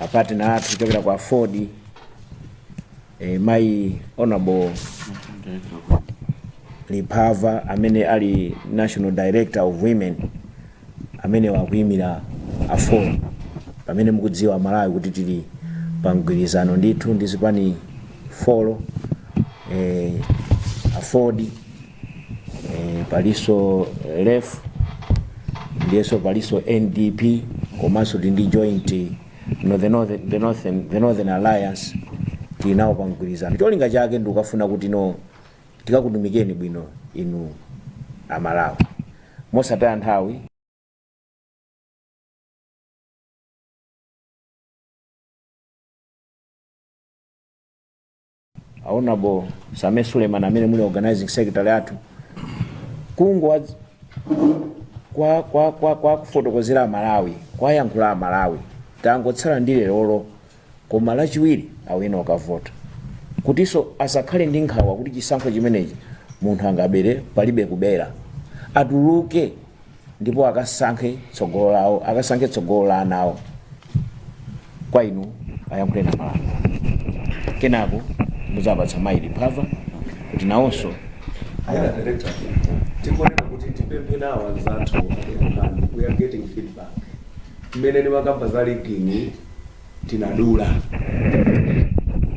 apatina athu kuchokera ku aford eh, mayi honorable liphava amene ali national director of women amene akuyimira aford pamene mukudziwa malawi kuti tili pa mgwirizano ndithu ndi zipani four eh, aford e, paliso lef ndiyenso paliso ndp komanso tili ndi joint no, the, northern, the, northern, the northern alliance tili nawo pa mgwirizano cholinga chake ndi kufuna kuti no tikakutumikeni bwino inu amalawi mosataya nthawi honorable sameer suleiman amene muli organizing secretary athu kungo kwa kwa kwa kuwafotokozera amalawi kuwayankhula amalawi tangotsala ndi lerolo koma lachiwiri apite akavote kuti nso asakhale ndi nkhawa kuti chisankho chimenechi munthu angabere palibe kubera atuluke ndipo akasankhe tsogolo lawo akasankhe tsogolo la ana awo kwa inu muyankhule ndi amalawi kenako ndizapatsa mayi liphava kuti nawonso Aya director, tikuoneka kuti tipemphe nawo anzathu akumani, we are getting feedback. Mmene ndimakamba za rigging tinadula.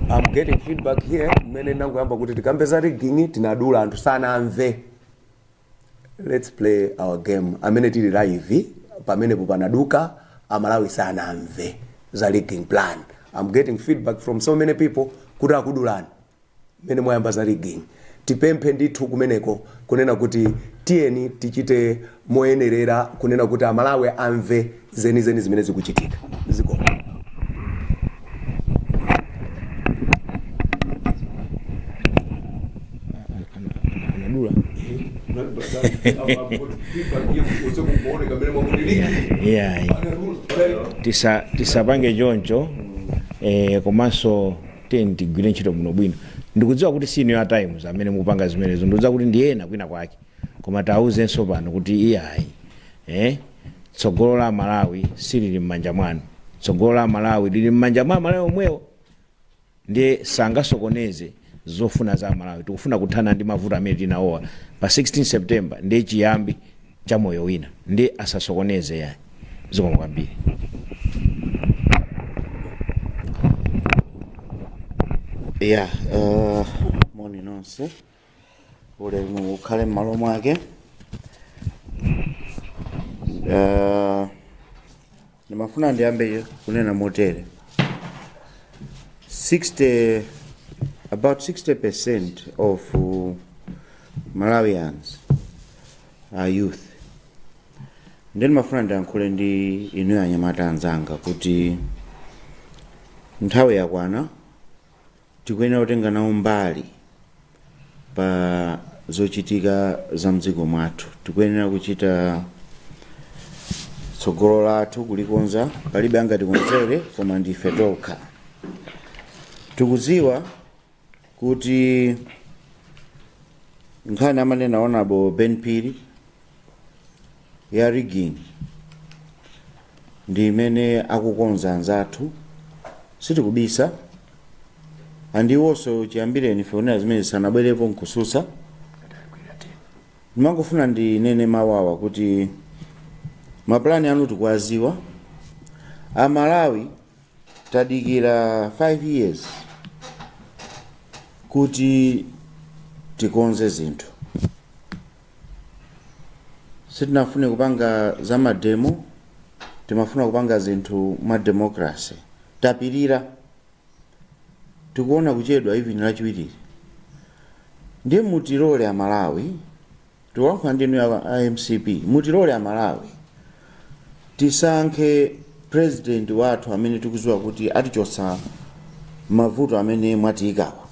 I'm getting feedback here mmene nangoyamba kuti tikambe za rigging tinadula anthu sanamve. let's play fair game amene tili live pamenepo panaduka amalawi sanamve za rigging plan i'm getting feedback from so many people kuti akudulani mmene mwayamba za rigging tipemphe ndithu kumeneko kunena kuti tiyeni tichite moyenerera kunena kuti amalawi amve zenizeni zimene zikuchitika zikomo anadula yeah. tisa tisapange choncho eh, komanso tiyeni tigwire ntchito bwinobwino ndikudziwa kuti si inu a times amene mukupanga zimenezo ndikudziwa kuti ndi ena kwina kwake Koma tiwauzenso pano kuti iyayi eh, tsogolo la Malawi silili m'manja mwawo. Tsogolo la Malawi lili m'manja mwa aMalawi omwewo, ndiye sangasokoneze zofuna za aMalawi. Tikufuna kuthana ndi mavuto amene tinawaona pa 16 September, ndi chiyambi cha moyo wina, ndiye asasokoneze yayi. Zikomo kwambiri. Yeah, uh, moni nonse. ulemu ukhale m'malo mwake Eh, ndimafuna ndiyambe kunena motere 60 about 60% of uh, malawians are youth ndi ndimafuna ndiyankhule ndi inu anyamata anzanga kuti nthawi yakwana Tikuyenera kutenga nawo mbali pa zochitika za mdziko mwathu. Tikuyenera kuchita tsogolo lathu kulikonza, palibe angatikonzere koma ndife tokha. Tikudziwa kuti nkhani amanena a Honourable Ben Phiri ya rigging ndi imene akukonza anzathu sitikubisa and iwonso chiyambireni ife kunenera zimene sanabwerepo n'kutsutsa ndimangofuna ndinene mawawa kuti mapulani anu tikuwadziwa Amalawi tadikira 5 years kuti tikonze zinthu Sitinafune kupanga za mademo, timafuna kupanga zinthu mwa democracy. Tapirira, tikuona kuchedwa even lachiwirili. Ndiye mutilole Amalawi, tikulankhula ndi inu a a mcp, mutilole Amalawi tisankhe president wathu amene tikudziwa kuti atichotsa mavuto amene mwatiikawa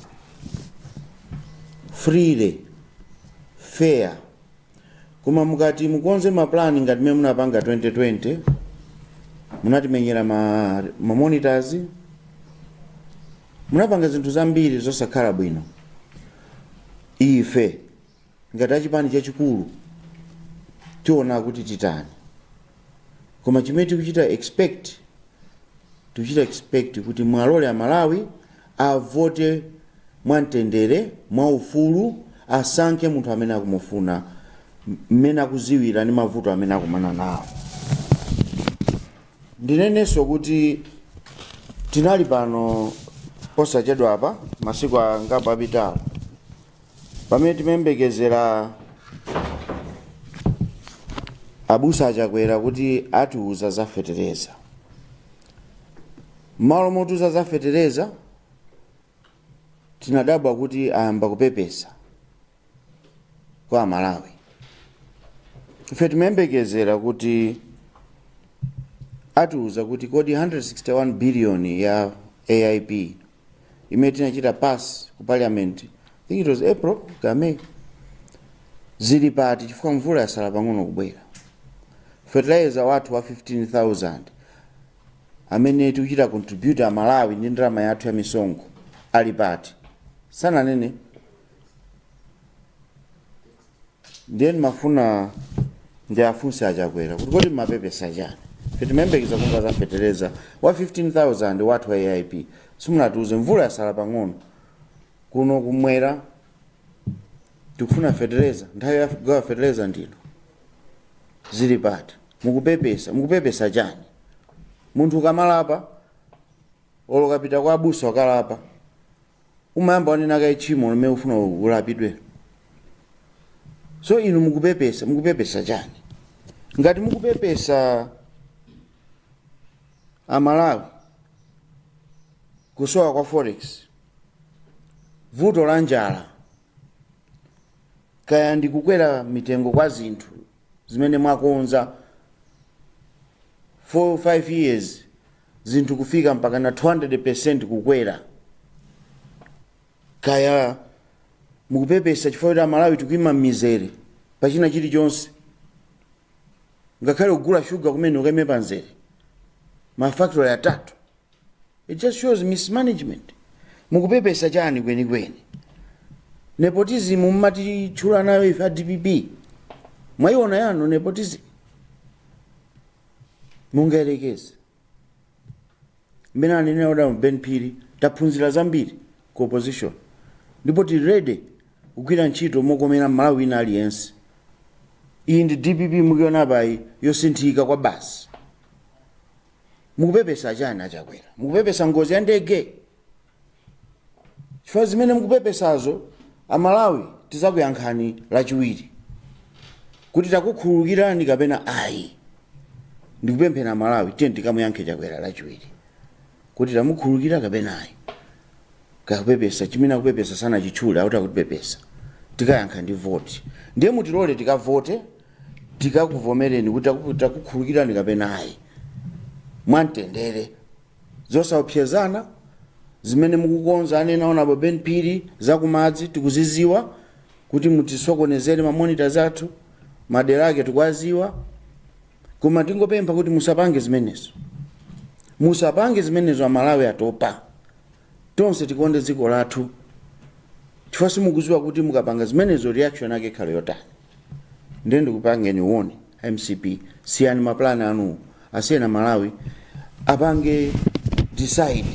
freely. fair koma mukati mukonze ma plan ngati mmene munapanga 2020 munatimenyera ma, ma monitors munapanga zinthu zambiri zosakhala bwino ife ngati chipani chachikulu tiona kuti titani koma chimene tikuchita expect tikuchita expect kuti muwalole Amalawi avote mwamtendere mwaufulu asankhe munthu amene akumufuna m- mmene akudziwira ndi mavuto amene akumana nawo ndinenenso kuti tinali pano posachedwapa masiku angapo apitawo pamene timayembekezera abusa a Chakwera kuti atiuza za fetereza mmalo motiuza za fetereza tinadabwa kuti ayamba kupepesa kwa Amalawi ife timayembekezera kuti atiuza kuti kodi 161 biliyoni ya aip imene tinachita pass ku parliament I think it was April ka May zili pati chifukwa mvula yasala pang'ono kubwera fertilizer wathu wa 15000 amene tikuchita contribute a Malawi ndi ndalama yathu ya misonkho ali pati sananene ndiye ndimafuna ndiafunse achakwera kuti kodi mmapepesa chani timayembekeza kumva za fetereza wa 15000 wathu wa aip simunatiuze mvula yasala pang'ono kuno kumwera tikufuna fetereza nthawi ya kugawa fetereza ndino zili pati mukupepesa mukupepesa chani munthu ukamalapa olokapita kwa abusa ukalapa umayamba wanena kaye tchimo lomwe ufuna ulapidwe so inu mukupepesa mukupepesa chani ngati mukupepesa amalawi kusowa kwa forex vuto la njala kaya ndi kukwera mitengo kwa zinthu zimene mwakonza 4 5 years zinthu kufika mpakana 200% kukwera kaya mukupepesa chifukwa choti amalawi tikuima m'mizere pachina chilichonse ngakhale kugula shuga kumene ukaime pamzere mafactory atatu it just shows mismanagement mukupepesa chani kwenikweni nepotism mmatitchula nayo ife a dpp mwaiona yanu nepotism mungayerekeze mmene anenera adam ben phiri taphunzira zambiri ku opposition ndipo tili ready kugwira ntchito mokomera mmalawi wina aliyense iyi ndi dpp mukuionapayi yosinthika kwabasi mukupepesa chani achakwera mukupepesa ngozi ya ndege chifukwa zimene mukupepesazo amalawi tizakuyankhani lachiwiri kuti takukhululukirani kapena ayi ndikupempha amalawi tiye tikamuyankhe chakwera lachiwiri kuti tamukhululukira kapena ayi kakupepesa chimene akupepesa sanachitchule akuti akutipepesa tikayankha ndi voti ndiye mutilole tikavote tikakuvomereni kuti taku- takukhululukirani kapena ayi mwamtendere Zosaopsezana zimene mukukonza anena Hon Ben Phiri zakumidzi tikuziziwa kuti mutisokonezere ma monitors athu madera ake tikuwaziwa koma tingopempha kuti musapange zimenezo musapange zimenezo amalawi atopa tonse tikonde dziko lathu chifukwa simukuziwa kuti mukapanga zimenezo reaction ake ikhale yotani ndiye ndikupangeni warn mcp siyani mapulani anuwo asiyeni amalawi apange decide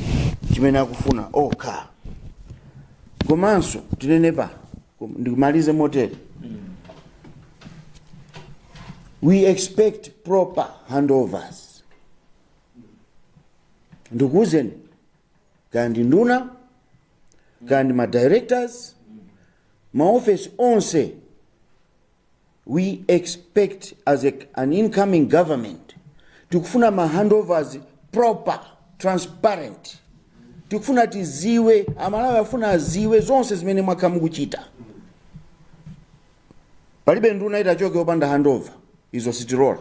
chimene akufuna okha komanso tinene pano kom- ndikumalize motere we expect proper handovers ndikuwuzeni kaya ndi nduna kaya ndi ma directors maofesi onse we expect as a, an incoming government tikufuna ma handovers proper transparent tikufuna tiziwe amalawi afuna aziwe zonse zimene mwakhala mukuchita palibe nduna itachoke opanda handover izo sitilola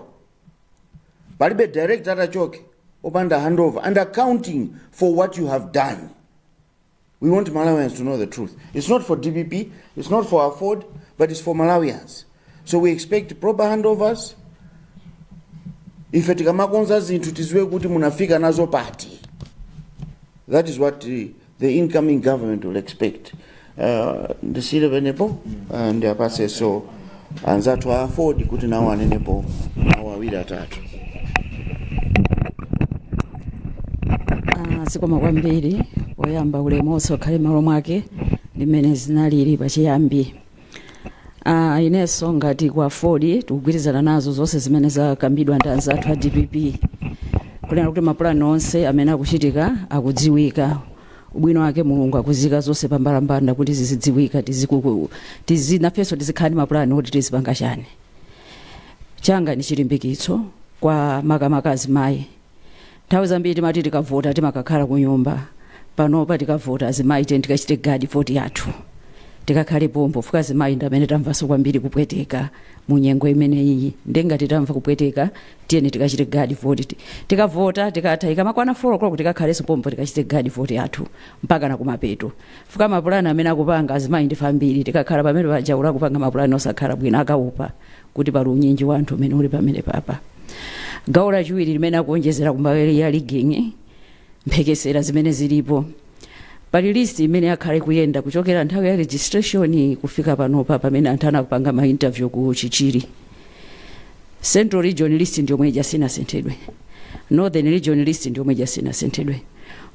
palibe director atachoke opanda handover and accounting for what you have done We want Malawians to know the truth. It's not for DPP, it's not for Afford, but it's for Malawians. So we expect proper handovers. Ife tikamakonza zinthu tiziwe kuti munafika nazo pati. That is what the, the incoming government will expect. Uh, ndisire penepo uh, ndiyapase so anzathu a aford kuti nawo anenepo mawu awiri atatu Ah, zikomo kwambiri poyamba ulemu onse ukhale malo mwake mmene zinalili pachiyambi ah, inenso ngati kwa aford tikugwirizana nazo zonse zimene zakambidwa ndi anzathu a dpp kunena kuti mapulani onse amene akuchitika akudziwika ubwino wake mulungu akuziika zonse pambalambanda kuti zizidziwika tizikuku tizi nafenso tizikhala ndi mapulani oti tizipanga chani changa ni chilimbikitso kwa makamaka azimayi nthawi zambiri timati tikavota timakakhala ku nyumba panopa tikavota azimayi tiye tikachite guard vote yathu tikakhale pompo chifukwa azimayi ndi amene tamvanso kwambiri kupweteka mu nyengo imeneyi nde ngati tamva kupweteka tiyeni tikachite guard vote ti- tikavota tikatha ikamakwana 4 o'clock tikakhalenso pompo tikachite guard vote yathu mpaka na kumapeto chifukwa mapulani amene akupanga azimayi ndife ambiri tikakhala pamene paja olo akupanga mapulani osakhala bwino akaopa kuti pali unyinji wa anthu umene uli pamenepapa gawo lachiwiri limene ndikuonjezera kumbali ya rigging mphekesera zimene zilipo pali list imene yakhala ikuyenda kuchokera nthawi ya registration kufika panopa pamene anthu akupanga ma interview ku chichiri central region list ndi yomwe ija sinasinthidwe northern region list ndi yomwe ija sinasinthidwe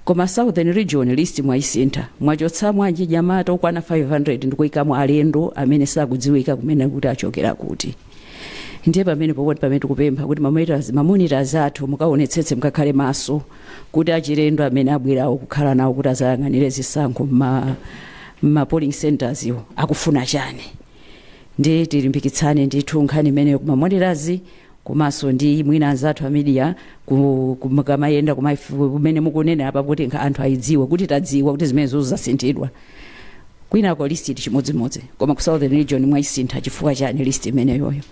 koma southern region list mwaisintha mwachotsamo achinyamata okwana 500 ndikuikamo alendo amene sakudziwika kumene kuti achokera kuti ndiye pamene pokuti pamene tikupempha kuti mamonitors mamonitors athu mukaonetsetse mukakhale maso kuti achilendo amene abwerawo kukhala nawo kuti azayang'anire zisankho mma mma polling centers iwo akufuna chani ndi tilimbikitsane ndithu nkhani imeneyo kuma authorities komanso ndi mwina anzathu a media ku- ku- mukamayenda kumaifu- kumene mukunena apa kuti nkha- anthu ayidziwe kuti tadziwa kuti zimene zozasinthidwa kwinako list ili chimodzimodzi koma ku southern region mwaisintha chifukwa chani list imeneyoyo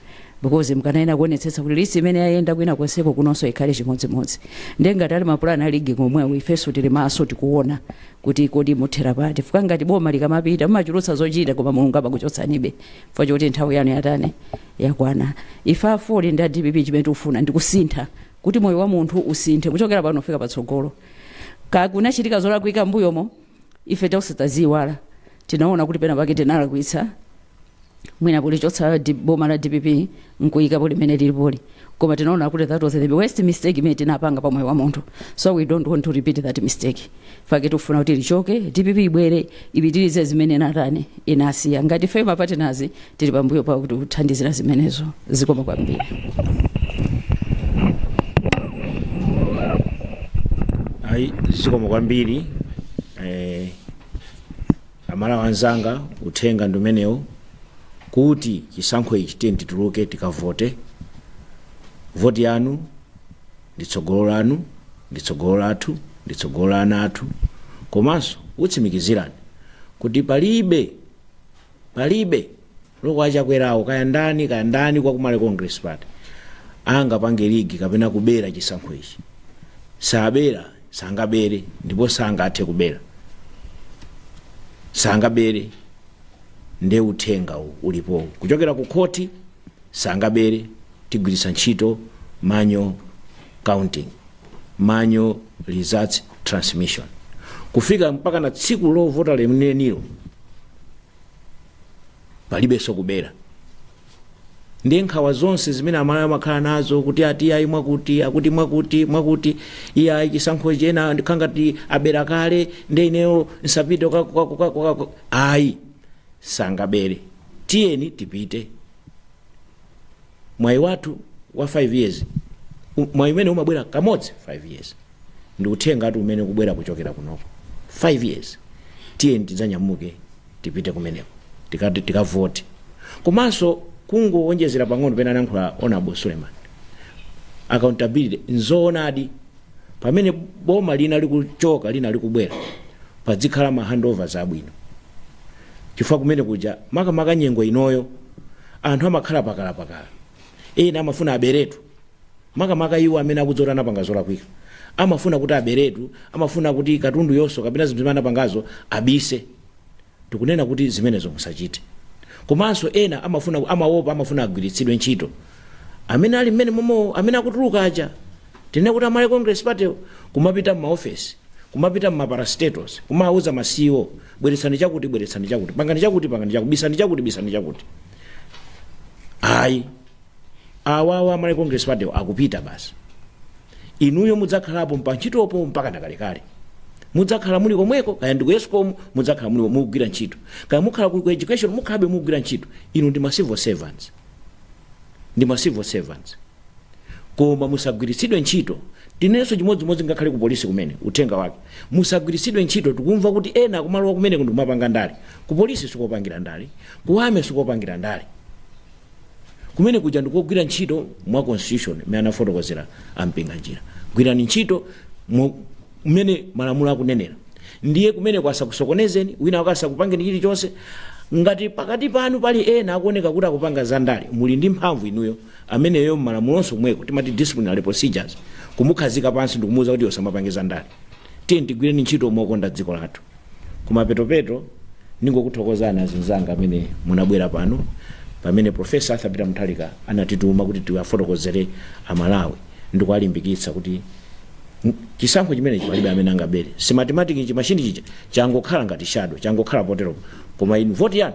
because mkanayena kuonetsetsa kuti list imene yaenda kwina konseko kunonso ikhale chimodzimodzi ndiye ngati ali mapulani a rig komwewo ifenso tili maso tikuona kuti kodi muthera pati chifukwa chake ngati boma likamapita mmachulutsa zochita koma mulungu amakuchotsanibe chifukwa choti nthawi yanu yatani yakwana ife AFORD ndi a dpp chimene tikufuna ndi kusintha kuti moyo wa munthu usinthe kuchokera pano kufika patsogolo kakunachitika zolakwika mbuyomo ife tonse taziyiwala tinaona kuti pena pake tinalakwitsa mwina kulichotsa di- boma la dpp nkuikapo limene lilipoli koma tinaona kuti that was the worst mistake imene tinapanga pa moyo wa munthu so we don't want to repeat that mistake chake tikufuna kuti lichoke dpp ibwere ipitirize zimene inatani inasiya ngati ife mapatinazi tili pambuyo pa kuti kuthandizira zimenezo zikoma kwambiri ayi zikomo kwambiri eh, amalawi anzanga uthenga ndi umenewo kuti chisankho ichi tiyeni tituluke tikavote voti yanu ndi tsogolo lanu ndi tsogolo lathu ndi tsogolo la ana athu komanso kutsimikizirani kuti palibe palibe Loko a Chakwerawo kaya ndani kaya ndani kwa ku Malawi congress party angapange rig kapena kubera chisankho ichi sabera sangabere ndipo sangathe kubera sangabere nde uthenga uwu ulipowu kuchokera ku khoti sangabere tigwiritsa ntchito manual counting manual results transmission kufika mpakana tsiku lovota lenilenilo palibenso kubera ndiye nkhawa zonse zimene amalawi amakhala nazo kuti ati iyayi mwakuti akuti mwakuti mwakuti iyayi chisankho ichi ena ndikhala ngati abera kale ndiye ineyo nsapite kwa- kwa- kwa- kwa- kwa- ayi sangabere tiyeni tipite mwayi wathu wa 5 years u- mwayi umene umabwera kamodzi 5 years ndi uthenga ngati umene kubwera kuchokera kunoko 5 years tiyeni tidzanyamuke tipite kumeneko tikati tikavote komanso kungowonjezera pang'ono pena anankhula honourable Suleiman accountability nzoonadi pamene boma lina likuchoka lina likubwera padzikhala ma handovers abwino chifukwa kumene kuja makamaka nyengo inoyo anthu amakhala pakalapakala ena amafuna aberetu, makamaka iwo amene akudziwa kuti anapanga zolakwika amafuna kuti aberetu amafuna kuti katundu yonso kapena zinthu zimene anapangazo abise tikunena kuti zimenezo musachite komanso ena amafuna amawopa amafuna agwiritsidwe ntchito amene ali mmene momo amene akutuluka aja tinene kuti a malawi congress party kumapita m'maofesi kumapita m'ma parastatals kumawuza ma ceo Bweretsani chakuti, bweretsani chakuti, pangani chakuti, pangani chakuti, bisani chakuti, bisani chakuti. Ayi, awawa amalawi congress party akupita basi. Inuyo mudzakhalapo pa ntchitopo mpaka nakalekale. mudzakhala muli komweko kaya ndi ku escom mudzakhala muli mukugwira ntchito kaya mukhala ku ku education mukhalabe mukugwira ntchito inu ndi ma civil servants ndi ma civil servants koma musagwiritsidwe ntchito tinenenso chimodzimodzi ngakhale ku polisi ku army uthenga wake musagwiritsidwe ntchito tikumva kuti ena akumalowa kumene kundi kumapanga ndale ku polisi sikopangira ndale ku army sikopangira ndale kumene kuja ndikogwira ntchito mwa constitution imene anafotokozera ampinga njira gwirani ntchito mu- mmene malamulo akunenera ndiye kumeneko asakusokonezeni wina wake asakupangeni chilichonse ngati pakati panu pali ena akuoneka kuti akupanga zandale muli ndi mphamvu inuyo ameneyo m'malamulonso komweko timati disciplinary procedures kumukhazika pansi ndikumuuza kuti iwe usamapange za ndale tiyeni tigwireni ntchito mokonda dziko lathu kumapetopeto ndingokuthokozani azinzanga amene munabwera pano pamene profesa arthur peter mutharika anatituma kuti tiwafotokozere amalawi ndikuwalimbikitsa kuti n- chisankho chimenechi palibe amene angabere smartmatic ichi machine ija changokhala ngati shadow changokhala potero koma inu voti yanu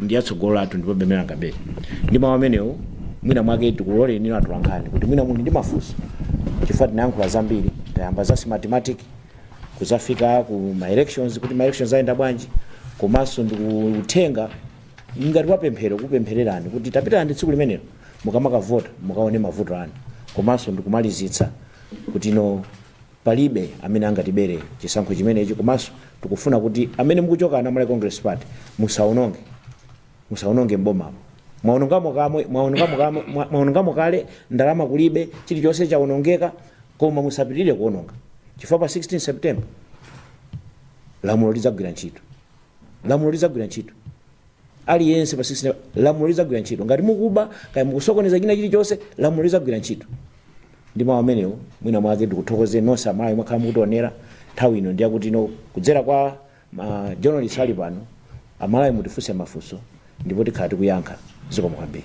ndi ya tsogolo lathu ndipo pemphero langa abale ndi mawu amenewo mwina mwake tikuloleni inu atolankhani kuti mwina muli ndi mafunso chifukwa tayankhula zambiri tayamba za smartmatic kuzafika ku ma elections kuti ma elections ayenda bwanji komanso ndi uthenga ngati wapemphero kupemphererani kuti pitani tsiku limenelo mukamakavota mukaone mavuto anu komanso ndikumalizitsa kuti no Palibe amene angatibere chisankho chimenechi komanso tikufuna kuti amene mukuchoka a malawi congress party musaononge musaononge m'bomamu mwaonongamo kamwe mwaonongamo kamwe mwa- mwaonongamo kale ndalama kulibe chilichonse chaonongeka koma musapitirire kuononga chifukwa pa 16 september lamulo lidzagwira ntchito lamulo lidzagwira ntchito aliyense pa 16 lamulo lidzagwira ntchito ngati mukuba kaya mukusokoneza china chilichonse lamulo lidzagwira ntchito ndi mawu amenewo mwina mwake ndikuthokoze nonse amalawi mwakhala mukutionera nthawi ino ndiyakuti inu kudzera kwa ma journalist ali pano amalawi mutifunse mafunso ndipo tikhala tikuyankha zikomo kwambiri